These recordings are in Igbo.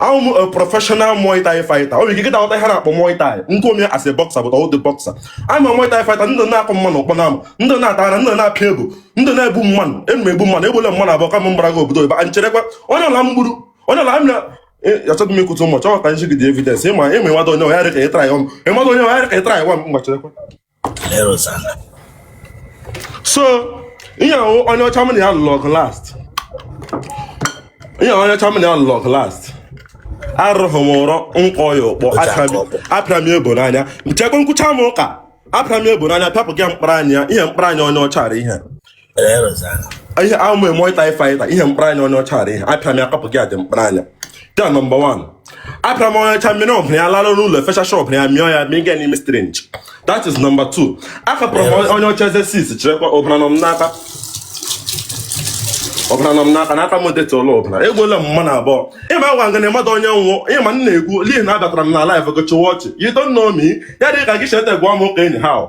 a wụ m a professional Muay Thai fighter ọ bụ ike kịta ọta ihe na-akpọ Muay Thai know me as a boxer but I'm not a boxer I'm a Muay Thai fighter ndị na-akụ mmanụ ọkpọ n'ama ndị na-ata ara ndị na-apịa elbow ndị na-egbu mmanụ ana m egbu mmanụ egbuole m mmanụ abụọ kama mgbara gị obodo ebe a cherekwa onye ọcha m gburu onye ọcha m na achọghị m ikwute ụmụ chọghọta nji gị dị evidence ịma ịma ịmado onye ọhịa dị ka ịtra ya ọnụ ịmado onye ọhịa dị ka ịtra ya nwa m mgbachirekwa so ihe onye ọcha m na ya lụrụ ọgụ last ihe onye ọcha m na ya lụrụ ọgụ last ahụghị m ụzọ m kụọ ya ọkpọ apịa m elbow n'anya chekwa m kwuchaa m ụka apịa m elbow n'anya pịapụ gị mkpara anya ihe mkpara anya onye ọcha ihe ihe a wụ m a Muay Thai fighter ihe mkpara anya onye ọcha ihe apịa m ya kapụ gị adị mkpara anya nke a number one apịa m onye ọcha mmiri ọbara ya lara n'ụlọ efecha shọp ya mịọ ya mịga n'ime strange that is number two akapụrụ m onye ọcha eze six cherekwa ọbara nọ m n'aka ọbara nọ m n'aka n'aka m deta ụlọ ọbụla egbuola m mmanụ abụọ ịma gwa ngana mmadụ onye m wụ ị ma m na-egwu lihi na abatara m na live gochiwa ọchị you don't know me ya dị ka gị cheta gwa m ụka enyi ha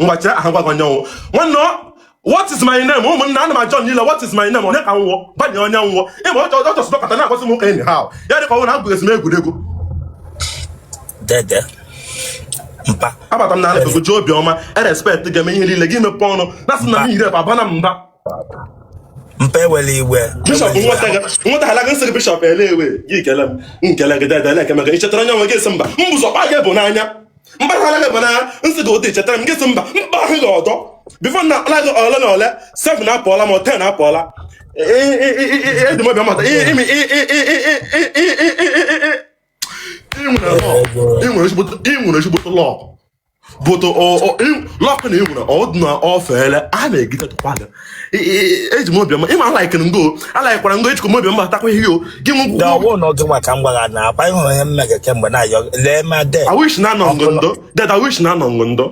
ngwa chere aha gwagwa nyanwụ nwanne ọ what is my name ụmụnna ana m ajụ unu what is my name onye ka m wụ gwa ya onye m wụ ịma ọ chọrọ chọsụ dọkọta na-akwasị m ụka enyi ha ya dịka ọ wụ na abụghị esi m egwuregwu dede mpa abata m na anabego ji obiọma a-respect ga-eme ihe niile gị mepe ọnụ na asị na m yiri abana m mba mpa ewela iwe bishọp nweta gị nweta hala gị nsị gị bishọp elewe gị kele m nkele gị dede na-ekemega ị chetara onye nwe gị esi mba m bụzọ kpa gị bụ n'anya mgbaghara gị bụ na nsị gị ụdị chetara m gị sị mba mkpa ahụ gị ọdọ before na akpala gị ole na ole sef na apụọla ma ten apụọla edumọbịa mata imi i nwere ezigbote luck but luck na i nwere ọdụ na ọfeele a na-egide tụkwa gị eji m obiọma ị ma a likere ngo a likekwara ngo ejikọ m obiọma atakwa ihe o gị m gwụgwọ ọ wụ na ọgụ maka mgbagha na akwa ịhụrụ ihe mmega kemgbe na-ayọ lee ma de I wish na anọ ngo ndo ded I wish na anọ ngo ndo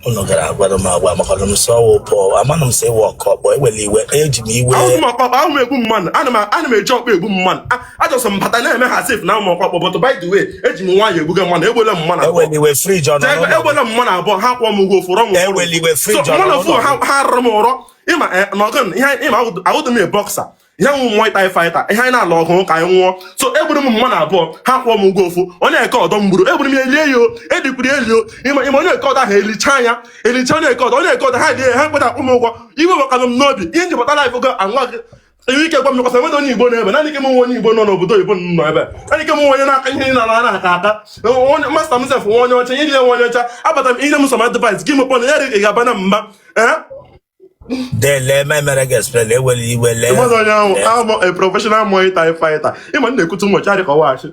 unu gara agwara m agwa maka na m sọ ọwụ pọ amanụ m sị wọkọ kpọ ewela iwe eji m iwe ahụ m ọkpa ahụ m egbu mmadụ ana m eji ọkpa egbu mmadụ a just m bata na-eme ha sef na ụmụ ọkpakpọ but by the way eji m nwaanyị ebuga mmanụ egbuole m mmanụ abụọ eweliwe frij ọ nọ Jee, n'ụlọ egbuole m mmanụ abụọ ha kwụọ m ụgwọ ofu rọ m ọrụ. Eweliwe frij So, ọ nọ mmanụ ofu n'ụlọ ha ha kwụrụ m ụgwọ ịma eh, na ọgụ m- ihe anyị- ịma ahụ- a wụdị m a boxer ihe m wụ Muay Thai fighter ihe anyị na-alụ ọgụ ka anyị nwụọ so egburu m mmanụ abụọ ha kwụọ m ụgwọ ofu onye nke ọdọ m gburu egburu m ya elie ya o edikwuru ya eli o ịma ịma onye nke ọdọ ahụ elicha ya elicha onye nke ọdọ onye nke ọdọ ha elie ya ha kweta akwụ m ụgwọ iwe gbakara m n'obi ihe njikọta live ogo anwa gị enwe ike gwa m nyekwasa enwere onye igbo n'ebe naanị ike m nwe onye igbo nọ n'obodo oyibo nọ ebe naanị ike m nwe onye na-aka ihe na na aka aka onye masta m sef nwe onye ọcha ihe dị ya nwe onye ọcha abata m ihe m sọ ma advice gị mekpọ na ya dị ga-aba na mba ee Dele memere gị explain ewere iwe lee. Ị madị onye m wụ, I'm a professional Muay Thai fighter. Ịma m na-ekute ụmụ ọcha dị ka ọwachi.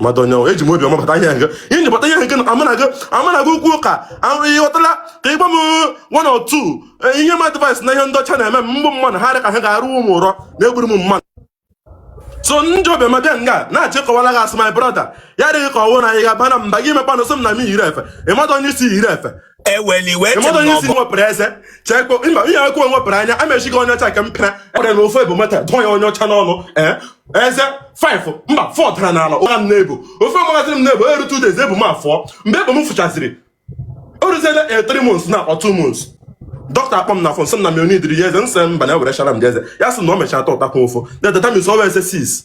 ị madị onye m wụ eji m obi ọma bata ihe nke ihe nji bata ihe nke na amanago amanago ukwu ụka ịghọtala ka ịgba m one or two eh, ihe m advice na ihe ndị ọcha na-eme m mgbụ mmadụ ha dị ka ha ga-arụ ụmụ ụrọ na egburu m mmadụ so nji obi ọma bịa nga na-achị kọwara gị asị my brother ya adịghị ka ọwụ na anyị ga-aba na mba gị mekpanụ sị m na m yiri efe ị madị onye ị sị yiri efe eweli iwe eche ịmata m onye isi n'ọbọ nwepụrụ eze chekpo mba ihe akụ nwepụrụ anya amechighị onye ọcha nke m pịara ọrịa na ofe bụ mata dụọ ya onye ọcha n'ọnụ ee eze five mba four dara n'ala ụra m na-ebu ofe magazin m na-ebu eru two days ebu m afọ mgbe ebu m fụchaziri o ruziela e three months na akpọ two months dọkịta akpọ m na phone sị m na m onidiri ya eze m sị mba na ewerechara m gị eze ya sị na o mechara ta ụtakwa ụfụ na that means ọwụ eze six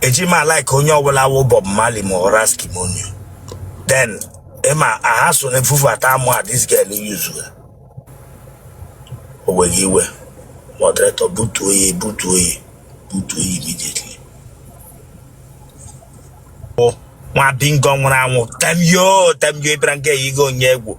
eji m a-like onye ọbụla wụ Bob Marley ma ọ Ras Kimono then ịma aha so na efufu ata amụ a this girl yuzu ya o were iwe moderator butuo ya butuo ya butuo ya immediately nwa bingo nwụrụ anwụ temyo temyo ịbịara nke ya igo onye egwu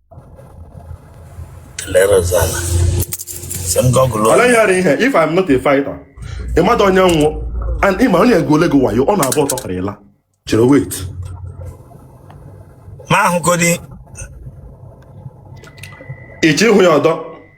kelere ọzọ ala sị m Google ọ naghị ara ihe if I'm not a fighter ị madị onye m wụ and ịma onye ego ole gị wayo ọ na-abụ ọtọ kara ịla chere wait ma ahụgodi ịchọ ịhụ ya ọdọ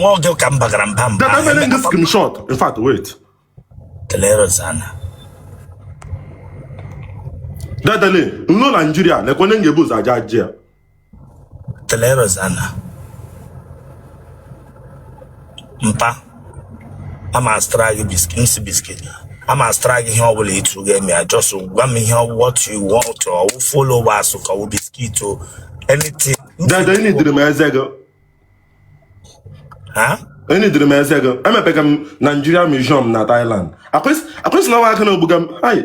nwa oge ka m bagara mba mba Dada mere ndị screenshot in fact wait kelere sana Dada lee m lọọ Nigeria lekwa onye ga-ebu ụzọ aja ajị ya Teleros ana mpa ama azụtara gị biscuit m si biscuit ama azụtara gị ihe ọbụla etu ga-eme ya just gwa m ihe what you want or ọ wụ flowers ka ọ wụ biscuit or anything Dada, ị nidiri m eze gị. ha Ị nidiri m eze gị. Emepega m Nigeria Museum na Thailand. Akwesị akwesị na nwa aka na ogbuga m. Hai.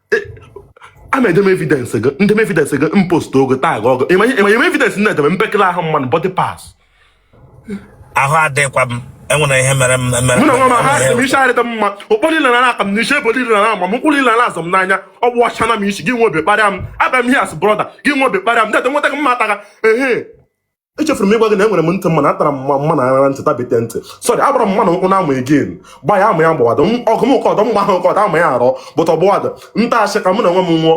a na-edem evidence gị ndem evidence gị m post ogo tag ọgụ ịmanye ịmanye evidence m na-edeme mpekele ahụ mmadụ body parts ahụ adịkwa m enwere ihe mere m mere mụ na nwa m ha sị m enwere isi arịdị m mma ọkpọ niile na akụ m n'isi ebe niile na ama m ụkwụ niile na azọ m n'anya ọ gbasana m isi gị nwe obi kparịa m abịa m here as brother gị nwe obi kparịa m dede nweta gị m ma ata gị ehe echefuru m ịgwa gị na enwere m ntị mma na atara m mma mma na ara ntị tabite ntị sọrị agbara m mma na ụkwụ na-amụ egin gba ya ama ya gbawado m ọgụ m ụkọ ọdọ mgba ha ụkọ ọdọ ama ya arọ bụta ọgbụwadị nta asị ka mụ na onwe m nwụọ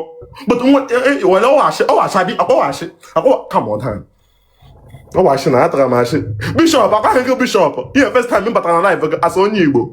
bụta nwa e- e- were ọwashi ọwashi adị akpọwashi akpọwa kam ọdan ọwashi na atara m ashị bishop agwaghị gị bishop ihe first time m batara na live asị onye igbo